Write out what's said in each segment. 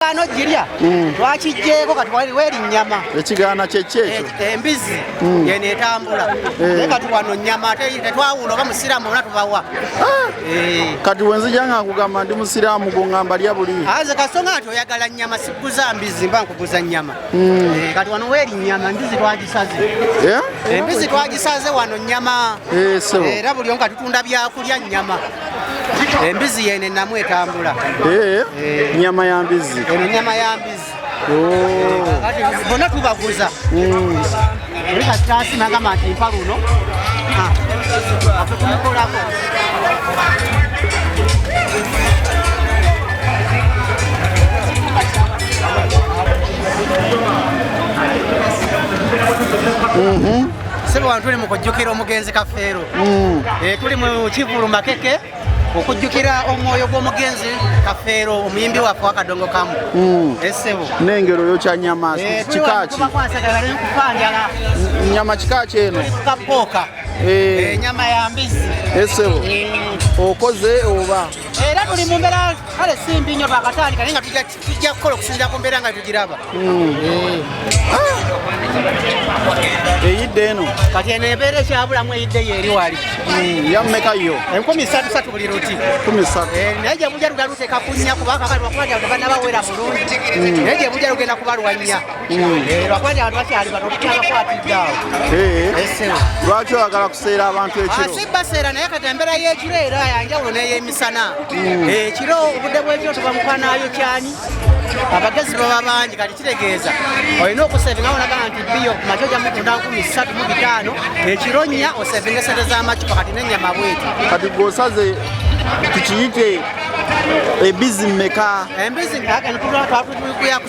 ekigaano girya hmm. twakijjeeko katuwaliwo erinnyama ekigaana kyekyekyo eh, embizi hmm. yeno etambula eh. naye kati wano nnyama tetwawula oba musiraamu bona tubawa ah. eh. kati wenzija nga nkugamba ndi musiraamu gungamba lya buli aze kasonga nti oyagala nnyama sikuguza mbizi mba nkuguza nnyama hmm. kati wano werinnyama embizi twagisaze embizi twagisaze wano nnyama era buli omu katutunda byakulya nnyama Embizi yene enamu etambula. Eh, eh. Nyama ya mbizi. Eno nyama ya mbizi. Oh. Kati bona tubaguza. Mm. Rika tasi nanga mati mpalu no. Ha. Apo tunakola ko. sebo wantu ne mukujjukira omugenzi kafeero mm. eh, tuli mu kivulu makeke okujjukira omwoyo gw'omugenzi kafeero omuyimbi waffe wakadongo kamu mm. esebo eh, nengero yo kyanyama eh, kikaki nyama kikaki eno kapooka enyama ya mbizi esebo mm. okoze oba era tuli mu mbeera kale simbi nnyo twakatandika naye nga tujja tujja kukola okusinzira ku mbeera nga tugiraba hmm. ah! eyidde eno kati eno ebeera ekyabulamu eyidde yo eri wali hmm, yamumeka yo enkumi satu satu buli luti eh, naye gyebuja lugenda luteeka kunya kubakakaliwakubaabanabaweera bulungi hmm. naye gyebuja lugenda kubalwanya eh, lwakuba nti abantu bakyali bano okukyabakwatiddaawo eh. lwaki oyagala kuseera abantu ekiro ah, si baseera naye kati embeera y'ekiro era yanjawulo neyemi sana mm. ekiro eh, obudde bwekiro tuba mukwanayo kyani abagezi baba bangi kati kitegeeza olina okusevinga wonagamba nti biyo kumaca oja mutunda nkumi satu mu bitaano ekiro nya osevinga esente z'amacupa kati nenyama bweti kati gwosaze tukiyite ebizi meka embizi kakani tulwatwatuyakuyako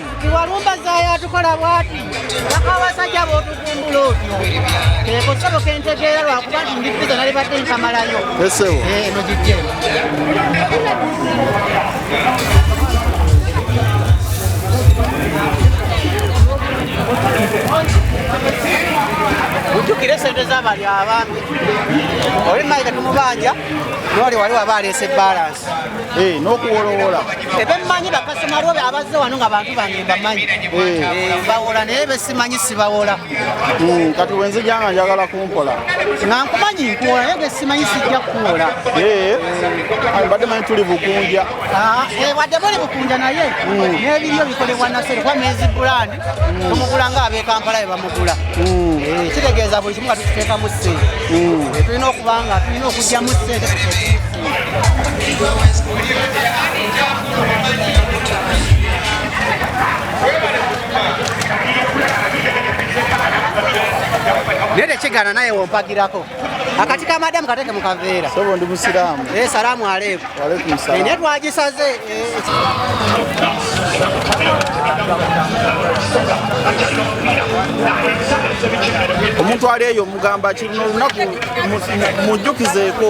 Iwalumba zaya tukola bwati bakawasajja botugumbula otyo eko sebo kentegeera lwakuba nti ndi piza nali badde nkamalayo esewo eh, eno gijje ujjukire sente zabali abaami oli mayiga tumubanja noli wali waba aleese balance Eh, n'okuwolowoola ebemmanyi bakasoma lwobe abazze wano nga bantu bange mbamanyi eh. Eh, bawola naye besimanyi sibawola hmm, kati wenzija nga njagala kumpola nga nkumanyi nkuwola naye gesimanyi sijja kuwola mbadde manyi tuli bukunja ah, wadde muli bukunja naye hmm. n'ebiryo bikolebwa nasere kuba mezi bulani mm. tumugula nga abekampala bebamugula mm. eh, kitegeeza buli kimu nga tukiteekamu sente mm. eh, tulina okuba nga tulina okugyamu sente naye tekigana naye wompagirako akati ka madamu kateke mu kaveera sobo ndi musiraamu eh salaamu aleikum wa aleikum salaam ne twagisaze omuntu ali eyo mugamba ki luno olunaku mujjukizeeko